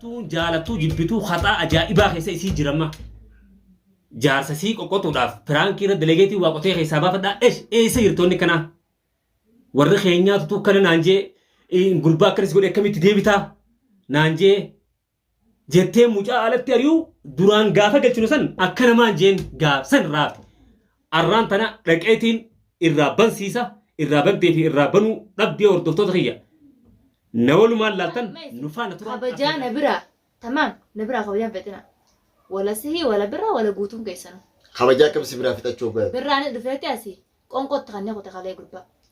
Tuun jaalattuu jibbituu haxaa ajaa'ibaa keessa isii jirama. Jaarsa sii qoqqotuudhaaf piraankii irra delegeetii waa qotee keessaa baafadhaa esh eessa jirtoonni kanaa. Warri keenyaa tutuu kana naan jee eh, gurbaa akkanis godhe akkamitti deebitaa naan jee jettee mucaa alatti ari'uu duraan gaafa galchinu san akka namaan jeen gaaf san raafte. Arraan tana dhaqeetiin irraa bansiisa, irraa bantee fi irraa banuu dhabdee hordoftoota kiyya. Na walumaan laaltan nu faana turaan kabajaa na affeerraa. biraa tamaam na biraa kabajaa hin fexina wala sihii wala birraa wala guutuun keessanu Kabajaa akkam si biraa fixachuu hoggaa. birraanis dhufeetti asi qonqotti kannee kute kalee gurbaa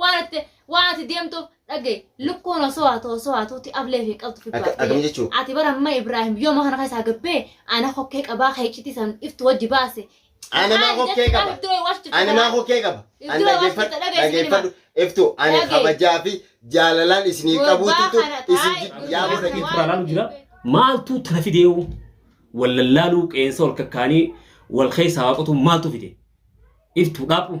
waan ati waan ati deemtuuf dhagaye lukkuun osoo haatu osoo haatuuti ablee fi qabdu fi Akka- baafte. akkam jechuu? ati bara amma ibraahim yooma kana keessaa gabbee ana hokkee qabaa kee iccitii san iftu wajji baase Ana maa hokkee qaba? Ani maa hokkee qaba? Ani Iddoo dhaggeeffadhu, warsita dhageessi dhaggeeffadhu. Iftu ani Dhagee. kabajaa fi jaalalaan isiniif qabuutitu isin jiddu yaa godha Dhagee. Irraa laalu jira. Maaltu tana fideewu? Wal lallaaluu qeensa wal kakkaanii wal keessaa waaqatu maaltu fide? Iftu dhaabbu.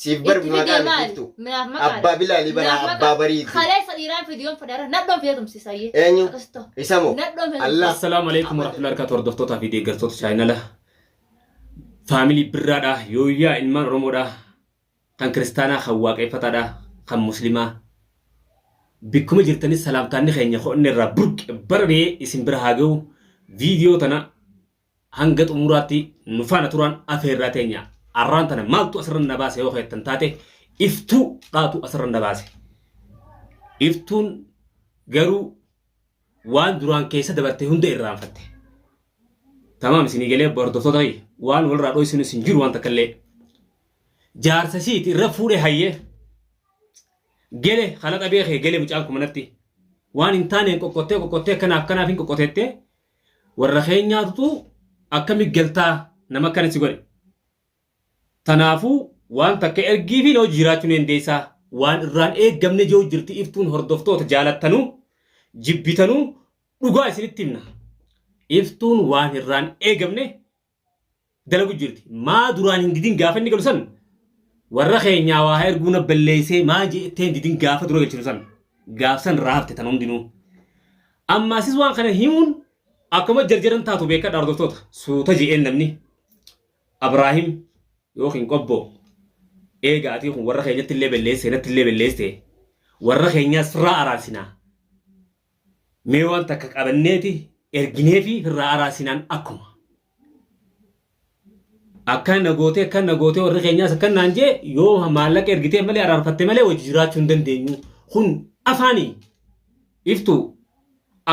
Siif bar Itti maqaa fidee miti maali? iftu. Minaaf maqaa Abbaa dha. bilaalii bara Minaaf maqaa. abbaa bariiti. Kaleessa dhiiraan fidiyoon fedhara nadhoon fidee tumsiisa ayyee. Eenyu? Akkasitti ta'u. Isa moo? Nadhoon fidee Allah. tumsiisa. Assalaamu alaikum warahmatullahi wabarakatuh hordoftootaa fi deeggartoota chaayinala faamilii birraadha yooyyaa ilmaan oromoodha kan kiristaanaa kan waaqeffataadha kan muslimaa bikkuma jirtanis salaamtaanni keenya ho'inne irraa burqe bararee isin bira haa ga'u viidiyoo tana Hanga xumuraatti nu faana turaan afeerraa teenya. Arraan tana maaltu asirran na baase yoo keettan taate iftuu dhaatu asirran na baase. Iftuun garuu waan duraan keessa dabarte hunda irraanfatte. Tamaam isinii galee hordoftoota kiyya waan walirraa dhoysuun isin jiru waan takka illee. Jaarsa isiiti irra fuudhee hayyee. Gele kana dhabee kee gele mucaan kumanatti. Waan hin taaneen qoqqottee qoqqottee kanaaf kanaaf hin qoqqoteettee Warra keenyaatutu akkami galtaa nama akkana si godhe. Tanaafuu waan takka ergiifi noo jiiraachuu ni dandeessaa. Waan irraan eeggamne je'uu jirti iftuun hordoftoota jaalattanuu jibbitanuu dhugaa isinitti himna. Iftuun waan irraan eegamne dalagu jirti. Maa duraan hin didin gaafa inni galu san warra keenyaa waa haa erguu na balleessee maa jettee hin didin gaafa dura galchinu san gaaf san irraa hafte tan hundinuu. Amma asis waan kana himuun akkuma jarjaran taatu beekadha hordoftoota suuta je'een namni Abraahim yookiin qobboo eega atii kun warra keenyatti illee balleessee natti illee balleessee warra keenyaas firraa araarsinaa. Mee waan takka qabanneeti ergineefi firraa araasinaan akkuma. Akkan na gootee akkan na gootee warri keenyaas akkan naan jee yoo maallaqa ergitee malee araarfatte malee wajji jiraachuu hin dandeenyu. Kun afaanii iftuu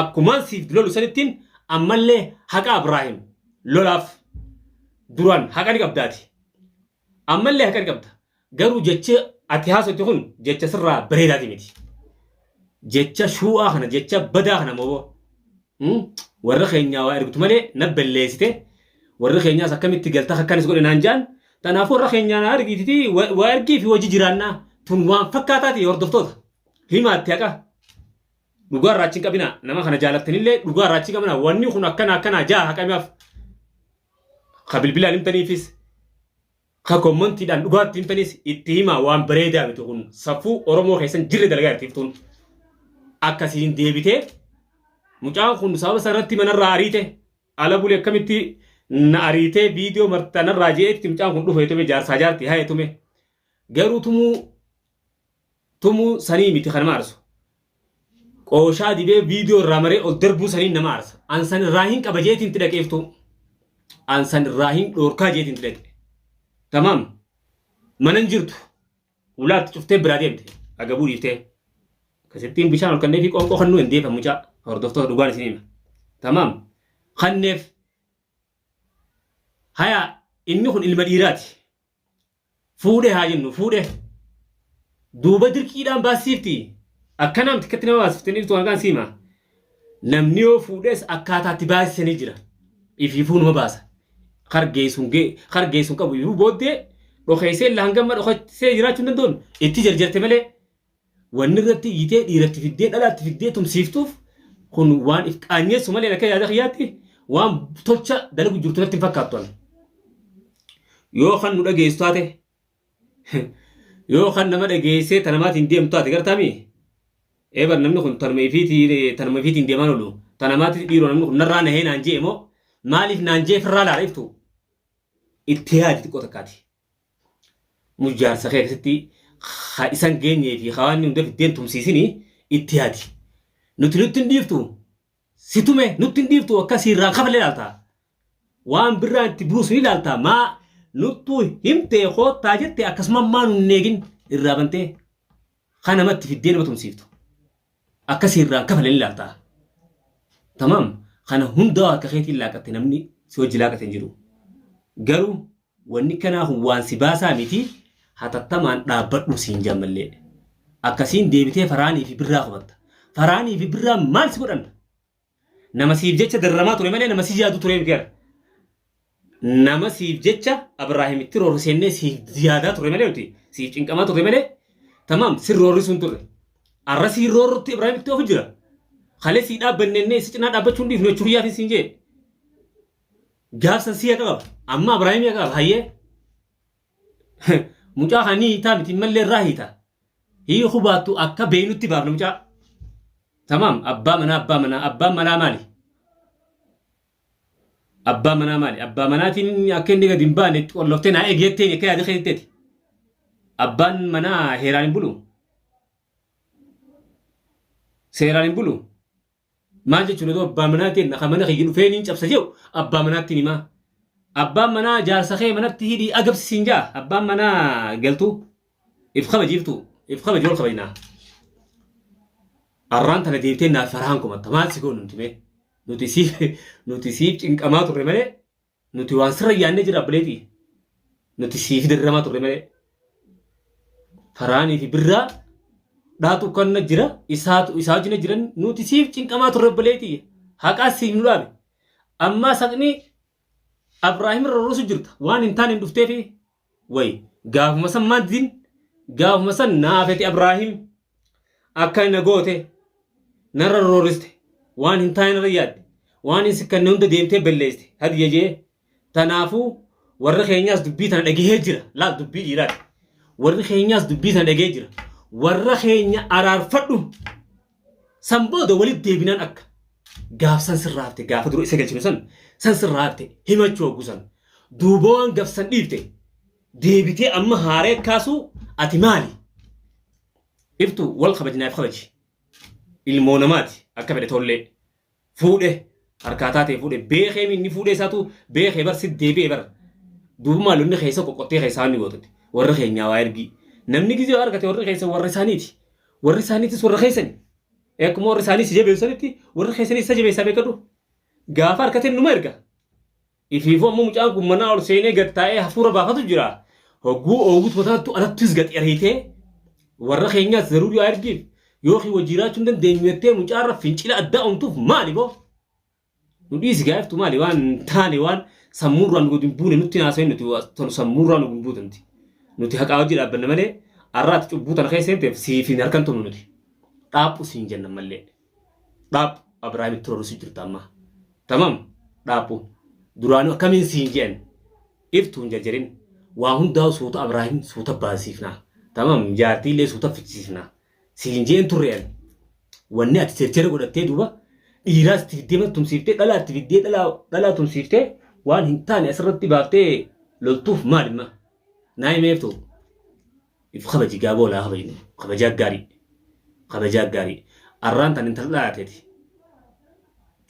akkumaan siif lolu sanittiin ammallee haqa Abiraahim lolaaf duraan haqa ni qabdaati. Ammallee haqan qabda. Garuu jechi ati haasofte kun jecha sirraa bareedaati miti. Jecha shuu'aa kana, jecha badaa kana moo hmm? warra keenyaa waa ergitu malee na belleessite. Warri keenyaas akkamitti galta akkanis godhe naan jaan. Tanaaf warra keenyaa na argiititi wa- waa ergii fi wajji jiraannaa. Tun waan fakkaataati hordoftoota. Himaatti haqa. Dhugaa irraa achi hin qabinaa. Nama kana jaalattanillee dhugaa irraa achi hin qabinaa. Wanni kun akkana akkanaa jaa haqamiif. ka bilbilaan himtaniifis ka kommantiidhaan dhugaatti himtanis itti himaa waan bareedaa miti kun safuu oromoo keessan jirre dalagaa irtiiftuun akkasiin deebitee mucaan kun sababa isaa irratti manarraa ariite ala bule akkamitti na ariitee viidiyoo martanarraa je'etti mucaan kun dhufu heetume jaarsaa jaarti haa heetume garuu tumuu tumu sanii miti kan nama arsu qooshaa dibee viidiyoo irraa maree ol darbuu saniin nama arsa an san irraa hin qaba jeetiin itti dhaqeeftuu an san irraa hin dhoorkaa jeetiin itti dhaqe tamaam mana hin jirtu ulaatti cuftee biraa deemte agabuu dhiiftee kasittiin bishaan ol kannee fi qoonqoo kannuu hin deefa mucaa hordoftoota dhugaan isin hima tamaam kanneef haya inni kun ilma dhiiraati Fuudhe haa jennu fuudhe. Duuba dirqiidhaan baassiifti. Akkana miti akkatti nama baasifte dhirtu kan kaan siima. Namni yoo fuudhes akkaataa itti baasisanii jira. Ifiifuu nama baasa. Hargeessuun gee hargeessuun qabu ifiifuu booddee dhokeessee laangamma dhokeessee jiraachuu hin danda'uun itti jarjarte malee Wanni irratti iyyitee dhiira itti fiddee dhala itti fiddee tumsiiftuuf kun waan if qaanyeessu malee akka yaada kiyyaatti waan tolcha dalagu jirtu natti hin fakkaattu ani. Yoo kan nu dhageessu taate yoo kan nama dhageessee ta namaatiin deemtu taate gartaami eebar namni kun tanuma ifiitiin tanuma ifiitiin deemaan oolu ta namaatiin dhiiroo namni kun narraa nahee naan je'e moo maaliif naan je'e firraa laala iftu itti yaadi xiqqoo takkaati. Mus jaarsa kee keessatti ha isan geenyee fi ha waan hunda fiddeen tumsiisini itti yaadi. Nuti nutti hin dhiiftu si tume nutti hin dhiiftu akka siirraan kafalle ilaalta. Waan birraa itti buusu ni ilaalta maa nuttuu himtee koottaa jette akkasuma maa nun hin eegin irraa bantee ha namatti fiddee nama tumsiiftu. Akka siirraan kafalle ni ilaalta. Tamaam kana hundaa harka keetiin laaqatte namni si hojji laaqate hin jiru. Garuu Wanni kanaa kun waan si baasaa miti, hatattamaan dhaabbadhuu siin jedha mallee. Akkasiin deebitee Farhaanii fi Birraa komatta. Farhaanii fi Birraan maal si godhan? Nama siif jecha dararamaa ture malee nama si yaadu turee miti bara. Nama siif jecha Abraahimitti roorri seennee siif yaadaa ture malee nuti siif cinqamaa ture malee tamaam sin roorri sun turre. Arra siin roorrutti Ibraahimitti ofu jira. Kalee sii dhaabbannennee si cinaa dhaabbachuu hin dhiifnu jechuun yaafin siin jee. Jaarsa siya qaba. Amma Abrahaam ya qaba. Hayyee. Mucaa kan ni hiitaa miti mallee irraa hiita. Hii hubaattu akka beeynutti baafna mucaa. Tamaam abbaa manaa abbaa manaa abbaan manaa maali? Abbaa manaa maali? Abbaa manaatiin akka inni gadi hin baane itti qolloftee naa eegeetteen akka yaada keessatti. Abbaan manaa heeraan hin bulu. Seeraan hin bulu. Maal jechuun otoo abbaa manaa keenna kan mana kiyya dhufee niin cabsa je'u abbaa manaatti hin himaa. Abbaan manaa jaarsa kee manatti hidhii agabsi siin ja'a. Abbaan manaa galtuu if kabajiiftu if kabaji wal kabajnaa. Arraan tana deebitee naaf farahaan komatta maal si goonu nuti mee? Nuti siif nuti siif cinqamaa turre malee Nuti waan sirra yaannee jira abbileeti. Nuti siifi dirramaa turre malee. Faraanii fi birraa dhaatu kanna jira isaatu isaa wajjin jiran nuti siif cinqamaa turre abbileeti. Haqaa siif nu dhaabe. Ammaa saqni Abraahim irra rusu jirta waan hin taane hin dhufteefi way gaafuma san maddin gaafuma san naafeti abraahim akka na goote narra rooriste waan hin taane narra yaadde waan hin sikkanne hunda deemtee balleessite hadiya jee tanaafuu warri keenyaas dubbii tana dhagahee jira laal dubbii dhiiraati warri keenyaas dubbii tana dhagahee jira warra keenya araarfadhu San booda walitti deebinaan akka gaaf san sirraa hafte gaafa dura isa galchinu san san sirraa hafte himachuu hoggu san duuba waan gaf san dhiifte deebitee amma haaree kaasuu ati maali? Iftu wal kabajnaaf kabaji. Ilmoo namaati akka fedhe tollee fuudhe harkaa taatee fuudhe beekee inni fuudhe isaatu beekee bar si deebi'e bar duuba maal inni keessa qoqqottee keessaa inni gootatti warra keenyaa waa ergii namni gizee argate warri keessa warra isaaniiti warri isaaniitis warra keessani akkuma warri isaanii si jabeessanitti warri keessanis isa jabeessaa beekadhu gaafa harkateen numa erga Ifiifuu ammoo mucaan kun manaa ol seenee gad taa'ee hafuura baafatu jira. Hogguu oogutu mataattu anattus gad ariitee warra keenyaas zaruurii aargiif yookiin wajji jiraachuu hin dandeenyu jettee mucaarra fincila addaa uumtuuf maali boo? Nu dhiisi gaa'iftu maali waan hin taane waan sammuurraa nu gad hin buune nutti hin haasa'in nuti tanu sammuurraa nu hin buutanti. Nuti haqaa wajji dhaabbanna malee arraati cubbuu tana keessa seenteef siif hin harkantumnu nuti. Dhaaphu siin jenna mallee. dhaaphu abrahaamitti rorrisi jirta amma tamam dhaaphu duraanu akkamiin siin jeen iftu hin jajarin waa hundaa suuta abrahaam suuta baasiifna tamam jaartii illee suuta fichisiifna siin jeen turreen wanni ati seerchera godhattee duuba dhiiraas itti fiddee mana tumsiiftee dhalaa itti fiddee dhalaa dhalaa tumsiiftee waan hin taane asirratti baaftee loltuuf maalima naa himeeftu If kabaji gaaboo laa kabajnu kabajaa gaarii kabajaa gaarii arraan tan intaldhaa ateeti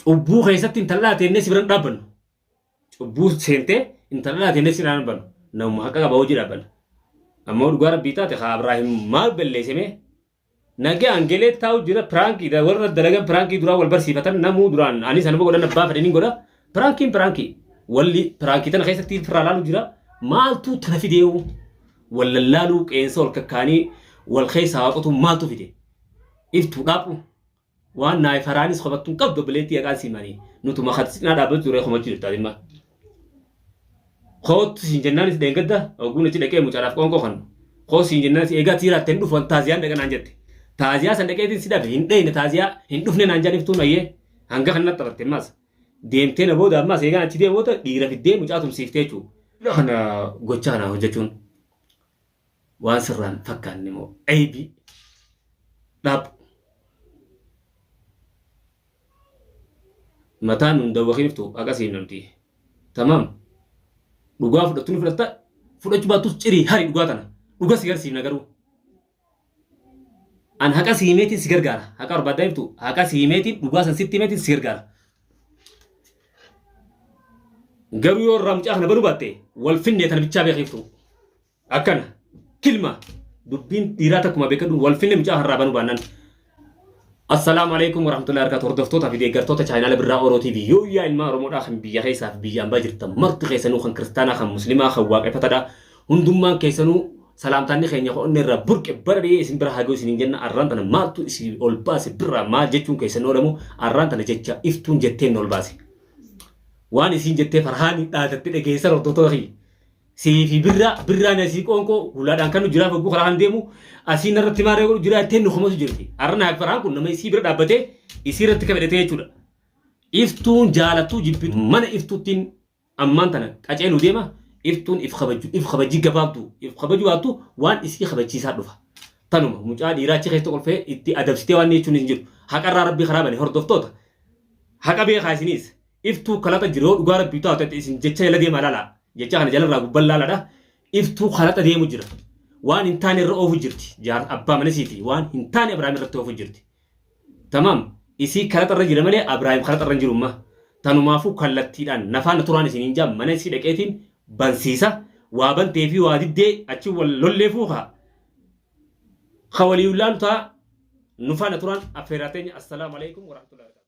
cubbuu keessatti intaldhaa teennee si biran dhaabbannu cubbuu seentee intaldhaa teennee si biran dhaabbannu namuma haqa qaba hojii dhaabbanna ammoo dhugaa rabbii taate haa Abraahim maal balleessemee Nagaan gelee taa'u jira piraankii dha warra dalagan piraankii duraa wal barsiifatan namuu duraan anis anuma godhan abbaa fedhe nin godha piraankiin piraankii walli piraankii tana keessatti firraa laalu jira maaltu tana fideewu wal lallaaluu qeensa wal kakkaanii wal keessaa waaqotu maaltu fide iftuu dhaaphu Waan naay faraanis qabattu hin qabdu obboleettii yaqaan sii manii nutuma kan cinaa dhaabbatu turee komachuu jirtaa dhimma. Koottu siin jennaanis dheengadda ogguun achi dhaqee mucaadhaaf qoonqoo kan koo siin jennaanis eegaa tiiraatte hin dhufu an taaziyaan dhaqa naan jette. Taaziyaa san dhaqeetiin si dhabe hin dheeyne taaziyaa hin dhufne naan jaan iftuun ayyee hanga kan natti taphatte ammaas. Deemtee na booda ammaas eegaan achi deemu booda dhiira fiddee mucaa tumsiiftee jechuudha. Kana gochaa kana hojjechuun waan sirraa hin fakkaanne moo aybii dhaab mataa nun dawwakiiftu akkasii namti tamam dhugaa fudhattu ni fudhatta fudhachuu baattus cirii hari dhugaa tana dhuga si garsiifna garuu An haqa si himeetiin si gargaara. Haqa barbaaddaa jirtu haqa si himeetiin dhugaa san sitti himeetiin si gargaara. Garuu yoo irraa mucaa kana banuu baatte wal finnee tana bichaa beekiiftu. Akkana kilma dubbiin dhiiraa takkuma beekadhu wal finne mucaa harraa banuu baannan. Assalaamu alaikum warahmatullahi wabarakatuh hordoftootaa fi deeggartoota chaayinaala birraa Oro TV yoo yaa ilmaa Oromoodhaa kan biyya keessaa fi biyya ambaa jirtan marti keessanuu kan kiristaanaa kan muslimaa kan waaqeffataadhaa Hundummaan keessanuu salaamtaanni keenya ka onnee irraa burqe bara dhiyee isin bira haa ga'u isiniin jenna arraan tana maaltu isin ol baase birraa maal jechuun keessan oolamu arraan tana jecha iftuun jetteen nu ol baase. Waan isiin jettee farhaani dhaadatte dhageessan hordoftoota kiyya. Sii fi birraa birraan asii qoonqoo hulaadhaan kan nu jiraa fogguu karaa kan deemu asii narratti maaree godhu jiraa jettee nu kumatu jirti. Arraan haa farhaan kun nama isii bira dhaabbatee isii irratti kabedhatee jechuudha. Iftuun jaalattuu jibbitu mana iftuuttiin Ammaan tana qaceeluu deema iftuun if kabajju if kabajjii gabaabduu if kabaju baattu waan isii kabachiisaa dhufa tanuma mucaa dhiiraa achi keessa kolfee itti adabsitee waan jechuunis hin jiru haqarraa rabbii karaa bane hordoftoota haqa beekaa isiniis iftuu kalaxa jiru yoo dhugaa rabbii taate ati isin jecha jala deemaa laalaa jecha kana jalarraa gubban laaladha iftuu kalaxa deemu jira waan hin taane irra oofu jirti jaar abbaa mana isiitii waan hin taane abrahaam irratti oofu jirti Tamaam isii karaxa irra jira malee Abraahim karaxa irra hin jiru umma. Tanumaafuu kallattiidhaan nafaana turaan isiniin jaa mana isii dhaqeetiin bansiisa waa bantee fi waa diddee achi wal lolleefuu kaa ka walii laalu taa nufaana turaan affeeraa teenya assalaamu alaikum warahmatullahi wabarakatuh.